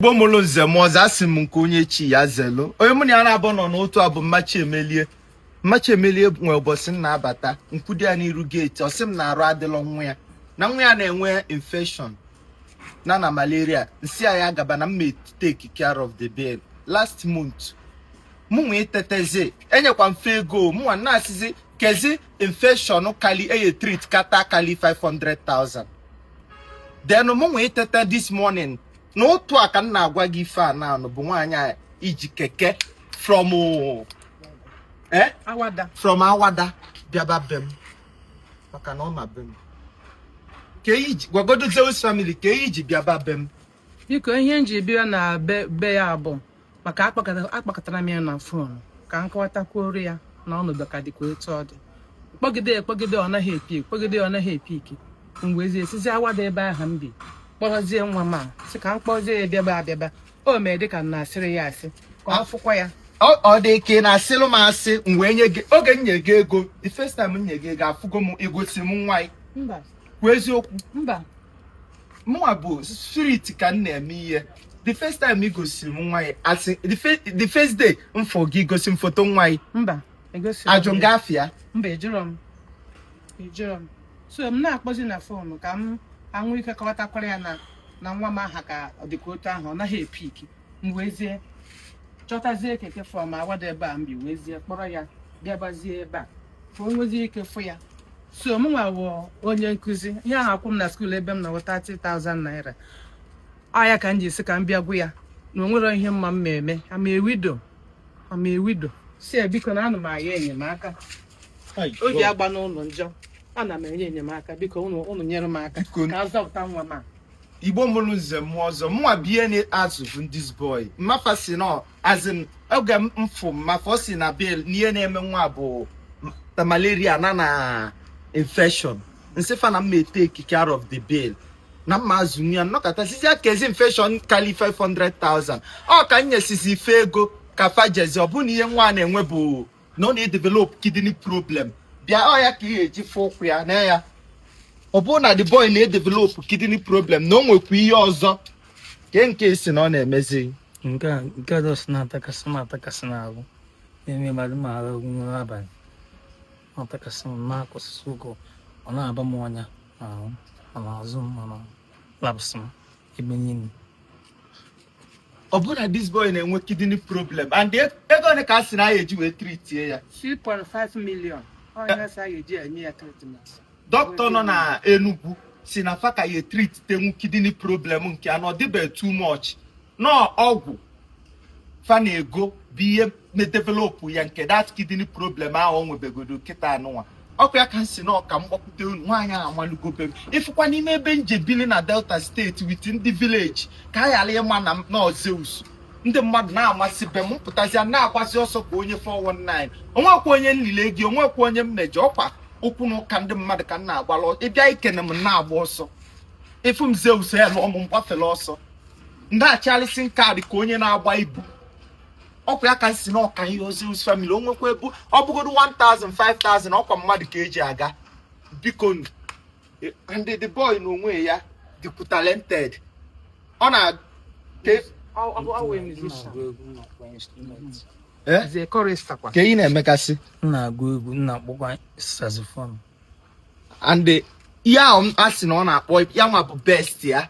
igbo mụrụ nze mụọ ọzọ asị m nke onye chi ya zelu onye mụ na ya na-abụ nọ n'otu a bụ mmachi emelie mmachi emelie nwee ụbọchị m na-abata nkwudi ya n'iru geeti ọ sị m na arụ adịlọ nwa ya na nwa ya na-enwe infection na na malaria m sị ya ya gaba na m ma take care of the bill last month mụnwa itetezi enyekwa m fa ego mụnwa na-asịzi kezi infection kali eye treat kata kali 500,000 then mụnwa itete this morning n'ụtụtụ a ka m na-agwa gị ife a na-anụ bụ nwaanyị a iji keke from eh? awada from awada bịaba be m maka na ọ ma be m ka i ji gwagodo Zeus family ke ihe i ji bịaba be m biko ihe m ji bịa na be be ya bụ maka akpọkatara m ya na fon ka m kọwatakwuoro ya na ọnọdụ ka dịkwa etu ọ dị kpọgide kpọgide ọ naghị epick kpọgide ọ naghị epick m wezie sizie awada ebe ahụ m bi kpọrọzie nwa m a sị ka m kpọzie ya bịaba abịaba o mee dịka m na-asịrị ya asị ka ọ fụkwa ya ọ dị ka ị na-asịlụ m asị m wee nye gị oge m nye gị ego the first time m nye gị ego afụgo m i gosi m nwa kwuo eziokwu mba mụnwa bụ spirit ka m na-eme ihe the first time ị gosiri m nwa gị asị the fe- the first day m fụ gị i gosi m foto nwa gị mba egosi m ajụ m gị afa ya mba ị jụrọ m ị jụrọ m so m na-akpọzi na fon ka m nwee ike kọwatakwara ya na na nwa m ahụ ka ọ dịkwa otu ahụ ọ naghị epick m wezie chọtazie keke from awada ebe a m bi wezie kpọrọ ya bịabazie ebe a ka o nwezie ike fụ ya so mụnwa wụ onye nkụzi ihe ahụ akwụ m na skuul ebe m nọ wụ 30,000 naira ọ ya ka m ji si ka m bịa gwa ya na o nwere ihe m ma m ma eme I'm a widow I'm a widow sị ya biko na ana m ayọ enyemaka Ai, oge God. agbana ụnụ njọ ana m ayọ enyemaka biko ụnụ ụnụ nyere m aka Biko. ka a zọpụta nwa m a igbo mụrụ nze mụọ ọzọ mụnwa bie na-azụ bụ this boy mma fa sị na as in oge m fụ mma fa ọ sị na bill n'ihe na-eme nwa bụ m- na malaria na na infection m sị fa na m ma etake care of the bill na m ma azụ ya m nọkata sịzị ya kezi infection kali 500,000 ọ ka m nyesịzị fa ego ka fa jezi ọ bụ na ihe nwa na-enwe bụ na ọ na-edevelop kidney problem bịa ọ ya ka ị ga-eji fụ ụkwụ ya na ya ọ bụrụ na the boy na-edevelop kidney problem na o nwekwa ihe ọzọ nke nke a sị na ọ na-emezi nke a nke a dọsị na-atakasị m atakasị n'ahụ na-eme mmadụ ma ara nwere abalị ọ atakasị m na-akwụsịsị ụgwọ ọ na-aba m ọnya n'ahụ ma n'azụ m ma na laps m ebe niile ọ bụrụ na this boy na-enwe kidney problem and e- ego ole ka a sị na a ya-eji wee treatie ya 2.5 million onye sị a ya-eji enye ya treatment dọkịta nọ na Enugu si na fa ka ya-etreatinwu kidney problem nke a na ọ dịbeghị too much na ọgwụ fa na ego bụ ihe na-edevelopụ ya nke that kidney problem ahụ o nwebegodo kịta anụnwa ọkwa ya ka m si na ọ ka m gbakwute unu nwaanyị ahụ amalugo be m ịfụkwa n'ime ebe m je bili na Delta State with ndị village ka a ghara ịma na na ọ Zeus ndị mmadụ na-amasị be m pụtazia na-agbasị ọsọ ka onye 419 onwekwa onye nlile gị onwekwa onye m mejọ ọkwa okwu na ụka ndị mmadụ ka m na-agbalụ ị bịa ikene m na-agba ọsọ ị fụ m Zeus ya na ọmụ m gbafere ọsọ ndị achịalịsị nkaadị ka onye na-agba ibu ọkwa ya ka m si na ọ ka m yọọ Zeus family onwekwa ebu ọ bụgodo 1000 5000 ọkwa mmadụ ka eji aga biko e, and the boy na onwe ya dịkwu talented ọ na eh? kee ihe na-emegasị na-agụ egwu na-akpọkwa saxophone and ihe ahụ a sị na ọ na-akpọ ya nwa bụ best ya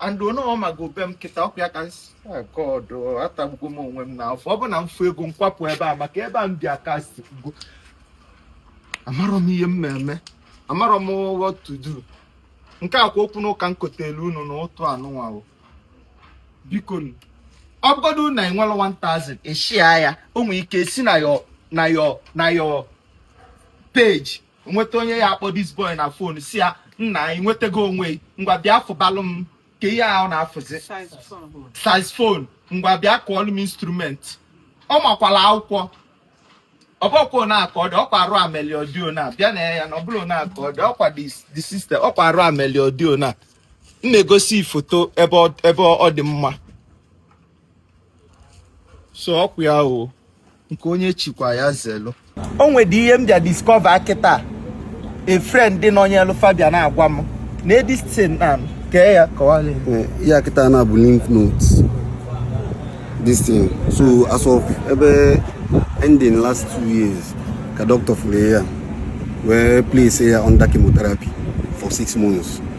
and onye ọ mago be m kịta ọkwa ya ka God atagbugo m onwe m n'afọ ọ bụ na m fụ ego m kwapụ ebe a maka ebe a m bi akasigo amarọ m ihe m na-eme amarọ m what to do nke a kwa okwu n'ụka m kotelu unu na ụtụtụ anụnwa biko ọ bụgodu na i nwerọ 1000 i share ya o nwere ike si na your na your na your page nweta onye ya-akpọ this boy na phone si ya nna anyị nwetago onwe ngwa bịa fụbalụ m kee ihe ahụ a na-afụzi saxophone ngwa bịa kụọlụ m instrument ọ makwalụ akwụkwọ ọ bụkwa na ka ọ dị ọkwa ọrịa meli ọ dị o na bịa nee ya anya ọ bụrọ na ka ọ dị ọkwa the system ọkwa ọrịa meli ọ dị o na m na-egosi foto ebe ọ dị mma so ọkwa ya o nke onye chikwa ya zelu o nwedị ihe m bịa discover kịta a friend dị n'onyelu Fabian na-agwa m na edistin na kee ya kọwara eh, ya kịta na-abụ lymph nodes this thing so as of ebe ending last two years ka doctor fụrụ ya wee place ya under chemotherapy for six months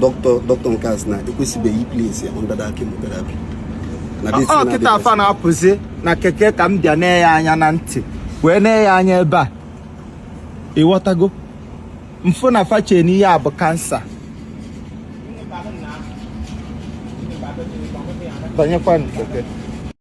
dọkịta dọkịta nke a sị na ekwesịbeghị i-place under that chemotherapy ọ kịta a fa na-apụzi na keke ka m bịa nee ya anya na ntị wee nee ya anya ebe a ịghọtago m fụ na fa che n'ihe a bụ cancer banyekwa keke